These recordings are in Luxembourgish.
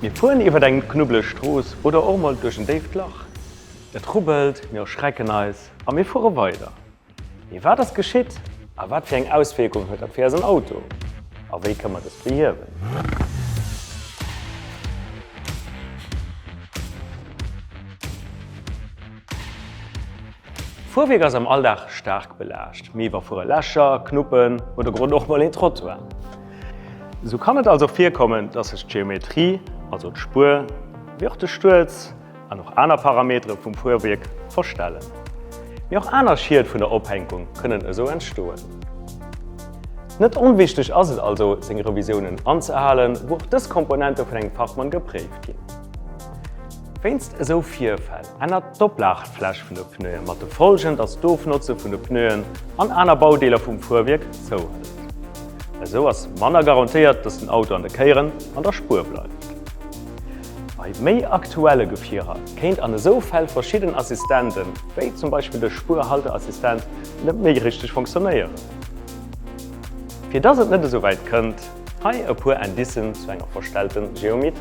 Mir fueren iwwert eng knubbeleg Strooss oder och mol duerch en déift Lach. Et rubbelt, mir erschrecken eis a mir fuere weider. Mee wat ass geschitt a wat fir eng Auswierkung huet dat fir eisen Auto? A wéi kënn mer dës behiewen? Fuerwierk ass am Alldag staark belaascht, mee iwwerfuere Lächer, Knuppen oder grad och mol een Trottoir. Sou kann et also virkommen, dass sech d'Geometrie, also d'Spuer, wéi och de Stuerz an och aner Parametere vum Fuerwierk verstellen. Mee och aner Schied vun der Ophänkung kënnen esou entstoen. Net onwichteg ass et also, seng Revisiounen anzehalen, wou och dës Komponente vun engem Fachmann gepréift ginn. Wéinst esou Virfäll Ännert d'Oplagefläch vun de Pneue mat de Folgen, datt d'Ofnotze vun de Pneuen an aner Baudeeler vum Fuerwierk zouhëlt. Esou ass manner garantéiert, datt den Auto an de Kéieren an der Spuer bleift. Bei méi aktuelle Gefierer kéint an esou Fäll verschidden Assistenten, wéi zum Beispill de Spuerhalteassistent, net méi richteg funktionéieren. Fir datt et net esou wäit kënnt, Hei e puer Indicen zu enger verstellte Geometrie.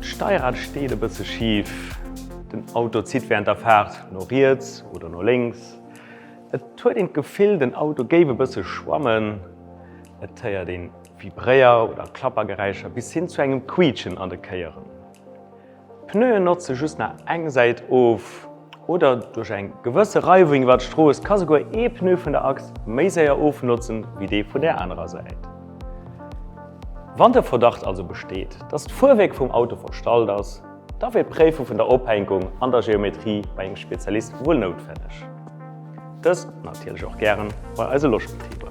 D'Steirad steet e bësse schif. Den Auto zitt während der Faart no riets oder no lénks. Et huet een d'Gefill, den Auto géif e bësse schwammen. Et héiert een Vibréier oder Klappergeräischer bis hin zu engem Quiitschen an de Kéieren. Pneuen notze just nach eng Säit of oder duerch eng gewësse Reiwung iwwer d'Strooss ka souguer ee Pneu vun der Achs méi séier ofnotzen, wéi dee vun där anerer Säit. Wann de Verdacht also besteet, dass d'Fuerwierk vum Auto verstallt ass, da wier d'Préife vun der Ophänkung an der Geometrie bei engem Spezialist wuel noutwenneg. Dëst natierlech och gären bei eise Logebetriber.